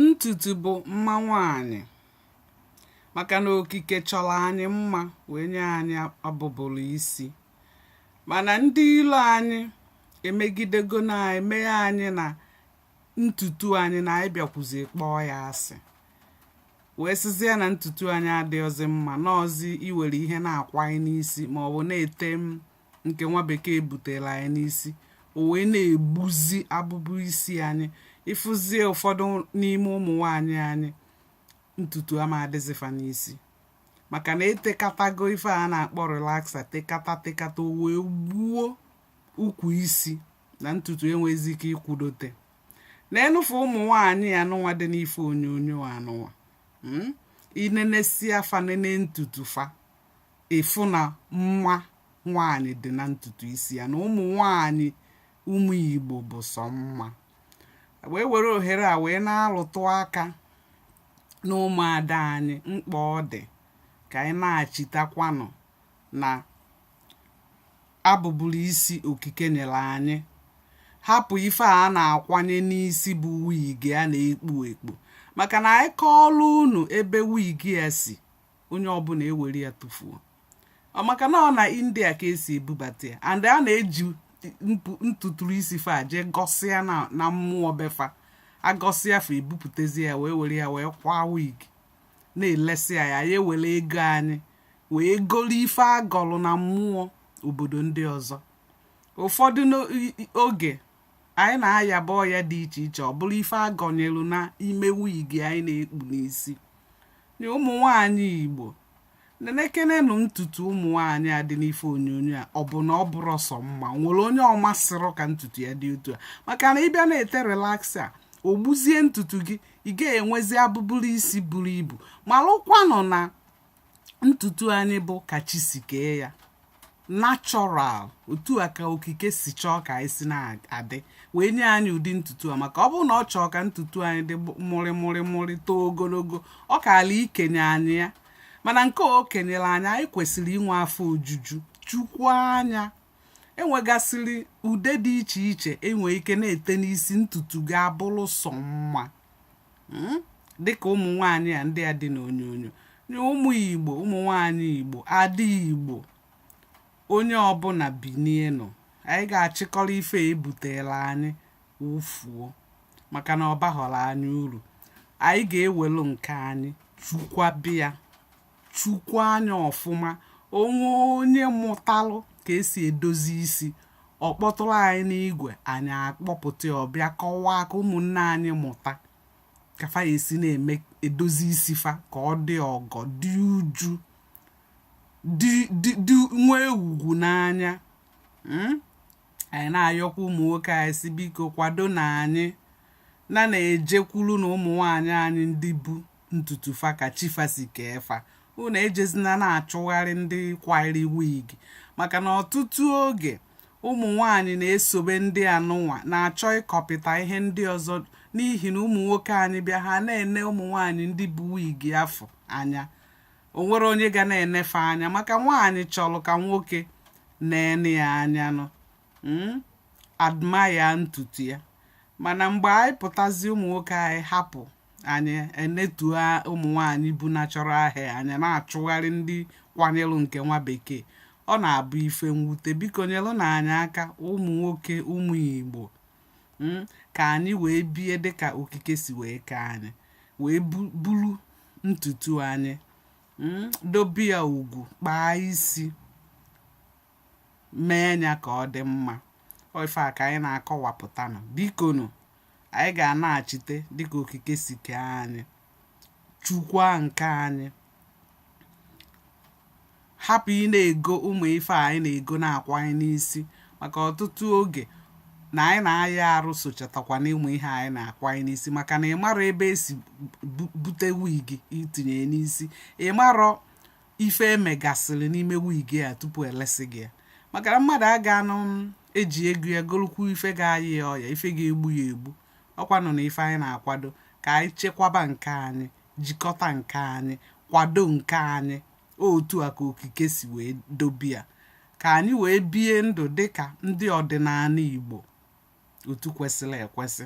Ntutu bụ mma nwaanyị maka na okike chọrọ anyị mma wee nye anyị abụbụlụ isi mana ndị ilo anyị emegidego na-emeghe anyị na ntutu anyị na anyị bịakwuzi kpọọ ya asị wee sịzie na ntutu anyị adịghịzi mma na ọzi iwere ihe na-akwanye n'isi maọbụ na-ete m nke nwa bekee butere anyị n'isi o wee na-egbuzi abụbụ isi anyị ị fụzie ụfọdụ n'ime ụmụ nwaanyị anyị ntutu ama adịzi fa n'isi maka na e tekatago ife a na-akpọ relaxer tekata tekata o wee gbuo ukwu isi na ntutu enwezi ike ikwudote neenụ fụ ụmụ nwaanyị anụnwa dị n'ife onyonyo anụnwa hmm? i nenesịa fa nene ntutu fa ị fụ na mma nwaanyị dị na ntutu isi ya na ụmụ nwaanyị ụmụ Igbo bụ sọ mma wee were ohere a wee na-alụtụ aka na ụmụada anyị mkpa ọ dị ka anyị nachitakwanụ na abụbụrụ isi okike nyere anyị hapụ ife a na-akwanye n'isi bụ wigi a na-ekpu ekpu maka na anyị kọọlụ unu ebe wigi a si onye ọbụna e were ya tụfuo maka na ọ na India ka e si ebubata ya and a na-eji ntuturu isi fa jee gọsịa na mmụọ be fa a gọsịa fa ebupụtazi ya wee were ya wee kwaa wig na-elesi anyị anyị ewere ego anyị wee goro ife a gọlụ na mmụọ obodo ndị ọzọ ụfọdụ oge anyị na-ayaba ọya dị iche iche ọ bụrụ ife a gọnyelu n'ime wigi anyị na-ekpu n'isi nye ụmụ nwaanyị Igbo nenekenenụ ntutu ụmụ nwaanyị a dị n'ife onyonyo a ọ bụ na ọ bụrọ sọ mma nwere onye ọ masịrọ ka ntutu ya dị otu a maka na ị bịa na-ete relaxer o gbuzie ntutu gị ị ga-enwezi abụbụrụ isi buru ibu malụkwanụ na ntutu anyị bụ ka chi si kee ya natural otu a ka okike si chọọ ka anyị si na-adị wee nye anyị ụdị ntutu a maka ọ bụrụ na ọ chọọ ka ntutu anyị dị mụrị mụrị mụrị too ogologo ọ kaala ikenye anyị ya mana nke o kenyere anyị anyị kwesịrị inwe afọ ojuju chekwaa ya e nwegasịrị ude dị iche iche i nwe ike na-ete n'isi ntutu ga-abụrụ sọ mma hmm? dịka ụmụ nwaanyị a ndị a dị n'onyonyo ụmụ Igbo ụmụ nwaanyị Igbo ndị Igbo onye ọbụna binienụ anyị ga-achịkọrọ ife e butelụ anyị wụfuo maka na ọ baghọrọ anyị uru anyị ga-ewelu nke anyị chekwaba ya chukwu anya ọfụma o nwee onye mụtalụ ka esi edozi isi ọ kpọtụrụ anyị n'igwe anyị akpọpụta ọ bịa kọwaa ka ụmụnne anyị mụta ka fa ya-esi na-eme edozi isi fa ka ọ dị ogo dị uju dị nwee ugwu n'anya hmm? anyị na-ayọkwa ụmụ nwoke anyị sị biko kwadonụ anyị na na-ejekwurunụ ụmụ nwaanyị anyị ndị bu ntutu fa ka chi fa si kee fa unu ejezina na-achụgharị ndị kwayiri wig maka na ọtụtụ oge ụmụ nwanyị na-esobe ndị a nụnwa na-achọ ịkọpịta ihe ndị ọzọ n'ihi na ụmụ nwoke anyị bịa ha na-ene ụmụ nwanyị ndị bu wig afụ anya o nwere onye ga na-ene fa anya maka nwaanyị chọrọ ka nwoke na-ene ya anya nụ hmm, admire ntutu ya mana mgbe anyị pụtazi ụmụ nwoke anyị hapụ anyị enetuo ụmụ nwaanyị bu natural hair anyị na-achụgharị ndị kwanyelụ nke nwa bekee ọ na-abụ ife mwute biko nyelụnụ anyị aka ụmụ nwoke ụmụ igbo hmm, ka anyị wee bie dịka okike si wee kee anyị wee bulu ntutu anyị hmm, dobe ya ugwu kpaa isi mee ya ka ọ dị mma ife a ka anyị na-akọwapụtanụ bikonụ anyị ga-anachite dịka okike si kee anyị chekwa nke anyị hapụ ị na-ego ụmụ ife a anyị na-ego na-akwanye n'isi maka ọtụtụ oge na anyị na-aya arụ sochatakwa n'ụmụ ihe anyị na-akwanye n'isi maka na ị marọ ebe e si bute wig i tinye n'isi ị marọ ife e megasịrị n'ime wig a tupu e lesi gị ya maka na mmadụ aga anụ eji ego ya golukwu ife ga-ayị ya ọya ife ga-egbu ya egbu ọ kwanụ na ife anyị na-akwado ka anyị chekwaba nke anyị jikọta nke anyị kwado nke anyị otu a ka okike si wee dobe ya ka anyị wee bie ndụ dịka ndị ọdịnanị Igbo otu kwesịrị ekwesị